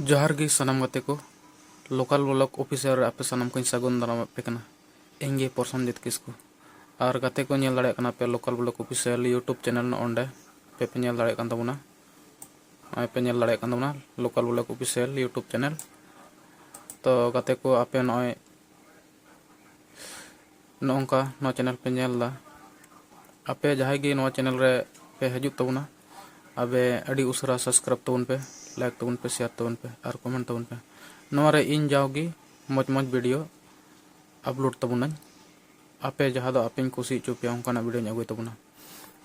ᱡᱚᱦᱟᱨ ᱜᱮ ᱥᱟᱱᱟᱢ ᱜᱟᱛᱮ ᱠᱚ ᱞᱳᱠᱟᱞ ᱵᱞᱚᱠ ᱚᱯᱷᱤᱥᱤᱭᱟᱞ ᱨᱮ ᱟᱯᱮ ᱥᱟᱱᱟᱢ ᱠᱚᱧ ᱥᱟᱹᱜᱩᱱ ᱫᱟᱨᱟᱢ ᱟᱯᱮ ᱠᱟᱱᱟ ᱤᱧ ᱜᱮ ᱯᱨᱚᱥᱚᱱᱡᱤᱛ ᱠᱤᱥᱠᱩ ᱟᱨ ᱜᱟᱛᱮ ᱠᱚ ᱧᱮᱞ ᱫᱟᱲᱮᱭᱟᱜ ᱠᱟᱱᱟ ᱯᱮ local block official YouTube channel ᱱᱚᱜᱼᱚ ᱱᱚᱸᱰᱮ ᱯᱮ ᱯᱮ ᱧᱮᱞ ᱫᱟᱲᱮᱭᱟᱜ ᱠᱟᱱ ᱛᱟᱵᱚᱱᱟ ᱱᱚᱜᱼᱚᱭ ᱯᱮ ᱧᱮᱞ ᱫᱟᱲᱮᱭᱟᱜ ᱠᱟᱱ ᱛᱟᱵᱚᱱᱟ local block official YouTube channel ᱛᱚ ᱜᱟᱛᱮ ᱠᱚ ᱟᱯᱮ ᱱᱚᱜᱼᱚᱭ ᱱᱚᱜᱼᱚᱝᱠᱟ ᱱᱚᱣᱟ ᱪᱮᱱᱮᱞ ᱯᱮ ᱧᱮᱞ ᱮᱫᱟ ᱟᱯᱮ ᱡᱟᱦᱟᱸᱭ ᱜᱮ ᱱᱚᱣᱟ ᱪᱮᱱᱮᱞ ᱨᱮ ᱯᱮ ᱦᱤᱡᱩᱜ ᱛᱟᱵᱚᱱᱟ ᱟᱵᱮ ᱟᱹᱰᱤ ᱩᱥᱟᱹᱨᱟ ᱥᱟᱵᱥᱠᱨᱟᱭᱤᱵᱽ ᱛᱟᱵᱚᱱ ᱯᱮ ᱞᱟᱭᱤᱠ ᱛᱟᱵᱚᱱ ᱯᱮ ᱥᱮᱭᱟᱨ ᱛᱟᱵᱚᱱ ᱯᱮ ᱟᱨ ᱠᱚᱢᱮᱱᱴ ᱛᱟᱵᱚᱱ ᱯᱮ ᱱᱚᱣᱟ ᱨᱮ ᱤᱧ ᱡᱟᱣᱜᱮ ᱢᱚᱡᱽ ᱢᱚᱡᱽ ᱵᱷᱤᱰᱤᱭᱳ ᱟᱯᱞᱳᱰ ᱛᱟᱵᱚᱱᱟᱹᱧ ᱟᱯᱮ ᱡᱟᱦᱟᱸ ᱫᱚ ᱟᱯᱮᱧ ᱠᱩᱥᱤ ᱦᱚᱪᱚ ᱯᱮᱭᱟ ᱚᱱᱠᱟᱱᱟᱜ ᱵᱷᱤᱰᱤᱭᱳᱧ ᱟᱹᱜᱩᱭ ᱛᱟᱵᱚᱱᱟ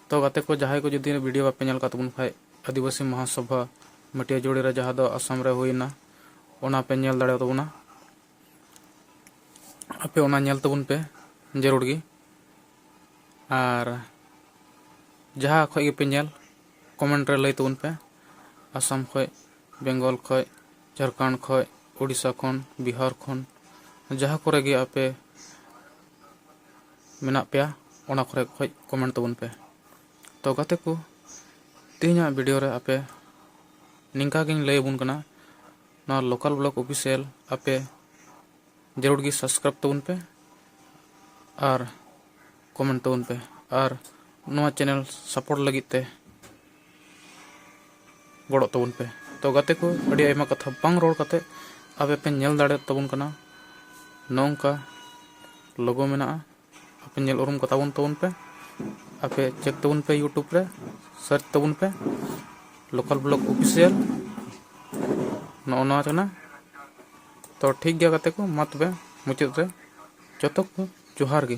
ᱛᱚ ᱜᱟᱛᱮ ᱠᱚ ᱡᱟᱦᱟᱸᱭ ᱠᱚ ᱡᱩᱫᱤ ᱵᱷᱤᱰᱤᱭᱳ ᱵᱟᱯᱮ ᱧᱮᱞ ᱠᱟᱜ ᱛᱟᱵᱚᱱ ᱠᱷᱟᱡ ᱟᱹᱫᱤᱵᱟᱹᱥᱤ ᱢᱚᱦᱟᱥᱚᱵᱷᱟ ᱢᱟᱹᱴᱤᱭᱟᱹ ᱡᱩᱲᱤ ᱨᱮ ᱡᱟᱦᱟᱸ ᱫᱚ ᱟᱥᱟᱢ ᱨᱮ ᱦᱩᱭᱱᱟ ᱚᱱᱟ ᱯᱮ ᱧᱮᱞ ᱫᱟᱲᱮᱭᱟᱛᱟᱵᱚᱱᱟ ᱟᱯᱮ ᱚᱱᱟ ᱧᱮᱞ ᱛᱟᱵᱚᱱ ᱯᱮ ᱡᱟᱹᱨᱩᱲ ᱜᱮ ᱟᱨ ᱡᱟᱦᱟᱸ ᱠᱷᱚᱡ ᱜᱮᱯᱮ ᱧᱮᱞ ᱠᱚᱢᱮᱱᱴ ᱨᱮ ᱞᱟᱹᱭ ᱛᱟᱵᱚᱱ ᱯᱮ ᱟᱥᱟᱢ ᱠᱷᱚᱡ ᱵᱮᱝᱜᱚᱞ ᱠᱷᱚᱡ ᱡᱷᱟᱲᱠᱷᱚᱸᱰ ᱠᱷᱚᱡ ᱩᱲᱤᱥᱥᱟ ᱠᱷᱚᱱ ᱵᱤᱦᱟᱨ ᱠᱷᱚᱱ ᱡᱟᱦᱟᱸ ᱠᱚᱨᱮ ᱜᱮ ᱟᱯᱮ ᱢᱮᱱᱟᱜ ᱯᱮᱭᱟ ᱚᱱᱟ ᱠᱚᱨᱮ ᱠᱷᱚᱡ ᱠᱚᱢᱮᱱᱴ ᱛᱟᱵᱚᱱ ᱯᱮ ᱛᱚ ᱜᱟᱛᱮ ᱠᱚ ᱛᱮᱦᱮᱧᱟᱜ ᱵᱷᱤᱰᱤᱭᱳ ᱨᱮ ᱟᱯᱮ ᱱᱤᱝᱠᱟ ᱜᱤᱧ ᱞᱟᱹᱭ ᱟᱵᱚᱱ ᱠᱟᱱᱟ ᱱᱚᱣᱟ ᱞᱳᱠᱟᱞ ᱵᱞᱚᱜ ᱚᱯᱷᱤᱥᱤᱭᱟᱞ ᱟᱯᱮ ᱡᱟᱹᱨᱩᱲ ᱜᱮ ᱥᱟᱵᱥᱠᱨᱟᱭᱤᱵ ᱛᱟᱵᱚᱱ ᱯᱮ ᱟᱨ ᱠᱚᱢᱮᱱᱴ ᱛᱟᱵᱚᱱ ᱯᱮ ᱟᱨ ᱱᱚᱣᱟ ᱪᱮᱱᱮᱞ ᱥᱟᱯᱳᱨᱴ ᱞᱟᱹᱜᱤᱫ ᱛᱮ ᱜᱚᱲᱚᱜ ᱛᱟᱵᱚᱱ ᱯᱮ ᱛᱚ ᱜᱟᱛᱮ ᱠᱚ ᱟᱹᱰᱤ ᱟᱭᱢᱟ ᱠᱟᱛᱷᱟ ᱵᱟᱝ ᱨᱚᱲ ᱠᱟᱛᱮ ᱟᱯᱮ ᱯᱮ ᱧᱮᱞ ᱫᱟᱲᱮᱭᱟᱜ ᱛᱟᱵᱚᱱ ᱠᱟᱱᱟ ᱱᱚᱝᱠᱟ ᱞᱳᱜᱳ ᱢᱮᱱᱟᱜᱼᱟ ᱟᱯᱮ ᱧᱮᱞ ᱩᱨᱩᱢ ᱠᱚ ᱛᱟᱵᱚᱱ ᱛᱟᱵᱚᱱ ᱯᱮ ᱟᱯᱮ ᱪᱮᱠ ᱛᱟᱵᱚᱱ ᱯᱮ ᱤᱭᱩᱴᱩᱵᱽ ᱨᱮ ᱥᱟᱨᱪ ᱛᱟᱵᱚᱱ ᱯᱮ ᱞᱳᱠᱟᱞ ᱵᱞᱚᱜ ᱚᱯᱷᱤᱥᱤᱭᱟᱞ ᱱᱚᱜᱼᱚ ᱱᱚᱣᱟ ᱠᱟᱱᱟ ᱛᱚ ᱴᱷᱤᱠ ᱜᱮᱭᱟ ᱜᱟᱛᱮ ᱠᱚ ᱢᱟ ᱛᱚᱵᱮ ᱢᱩᱪᱟᱹᱫ ᱨᱮ ᱡᱚᱛᱚ ᱠᱚ ᱡᱚᱦᱟᱨ ᱜᱮ